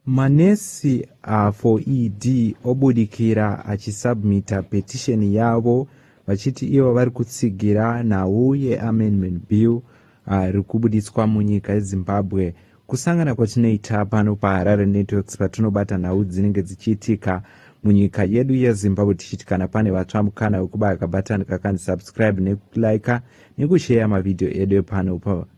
Manesi a for ED obudikira achisubmitter petition yavo vachiti ivo vari kutsigira nhau yeAmendment Bill ari kubuditswa munyika yeZimbabwe. Kusangana kwatinoita pano paHarare Networks patinobata nhau dzinenge dzichiitika munyika yedu yezimbabwe tichiti kana pane vatsva mukana wekubaya kabatani kakanzi subscribe nekuliker nekusheya mavhidhiyo edu epano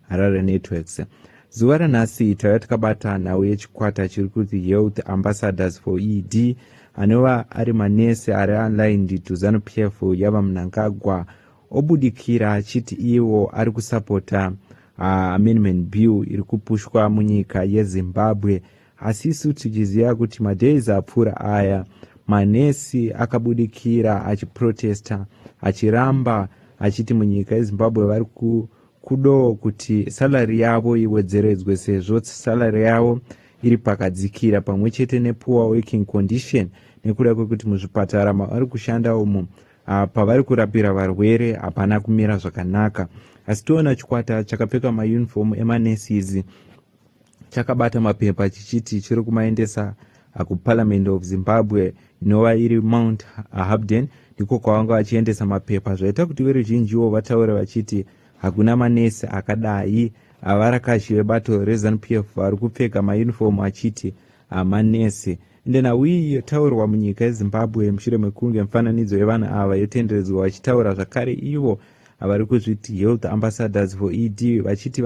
harare networks zuva ranhasi taiva takabata nhau yechikwata chiri kuti health ambassadors for ed anova ari manesi ari online ndito zanu p f yava munangagwa obudikira achiti iwo ari kusapota uh, amendment bill iri kupushwa munyika yezimbabwe asi isu tichiziva kuti madays apfuura aya manesi akabudikira achiprotesta achiramba achiti munyika yezimbabwe vari ku Kudawo kuti salary yavo iwedzeredzwe sezvo salary yavo iri pakadzikira pamwe chete nepoor working condition nekuda kwekuti muzvipatara mavari kushanda umo ah, pavari kurapira varwere hapana kumira zvakanaka asi toona chikwata chakapfeka mauniform emanesis chakabata mapepa chichiti chiri kumaendesa uh, kuparliament of zimbabwe inova iri mount habden ndiko kwavanga vachiendesa mapepa zvaita kuti veruzhinjiwo vataure vachiti hakuna manesi akadai avarakashi vebato rezanup f vari kupfeka mayunifomu achiti hamanesi nhenhau iyi yotaurwa munyika yezimbabwe mushure mekunge mifananidzo yevanhu ava yotenderedzwa vachitaura zvakare ivo vari kuzviti health ambassadors for ed vachiti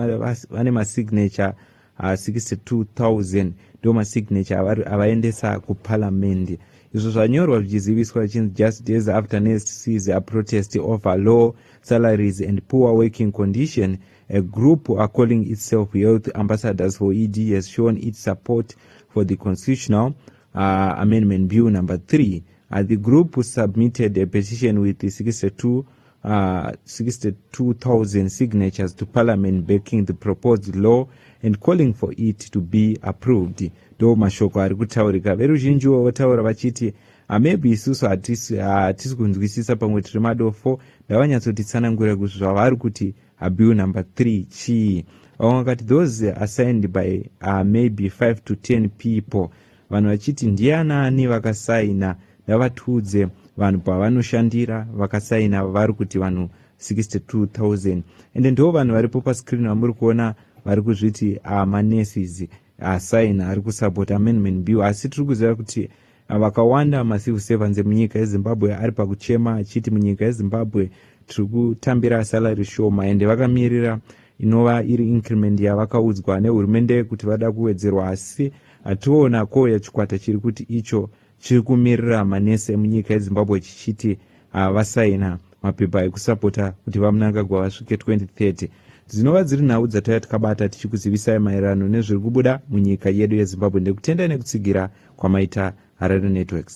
vane masignature 62000 ah, ndo masignature avaendesa kuparamende izvo zvanyorwa zvichiziviswa vachinzi just days after nest seas a protest over law salaries and poor working condition a group are calling itself health ambassadors for ed has shown its support for the constitutional uh, amendment bill number 3 uh, the group submitted a petition with the 62 uh, ah, 62,000 signatures to parliament backing the proposed law and calling for it to be approved ndo mashoko ari kutaurika veruzhinjiwo votaura vachiti hamebi isusu hatisi kunzwisisa pamwe tiri madofo ndavanyatsotitsanangurira kuti zvavari kuti Abiu number 3 chii? Vamwe vakati those assigned by uh, maybe 5 to 10 people. Vanhu vachiti ndiye anaani vakasaina ndavatiudze vanhu pavanoshandira vakasaina vari kuti vanhu 62000 ende ndiwo vanhu varipo pascreen vamuri kuona vari kuzviti amanurses ah, asaina ah, ari kusapota amendment bill asi tiri kuziva kuti ah, vakawanda macivil servants emunyika yezimbabwe ari pakuchema achiti munyika yezimbabwe tiri kutambira salary shoma ende vakamirira inova iri increment yavakaudzwa nehurumende kuti vada kuwedzerwa asi hationa ko yachikwata chiri kuti icho chiri kumirira manesi emunyika yezimbabwe chichiti havasaina mapepa ekusapota kuti vamunangagwa vasvike 2030 dzinova dziri nhau dzataiva tikabata tichikuzivisai maererano nezviri kubuda munyika yedu yezimbabwe ndekutendai nekutsigira kwamaita harare networks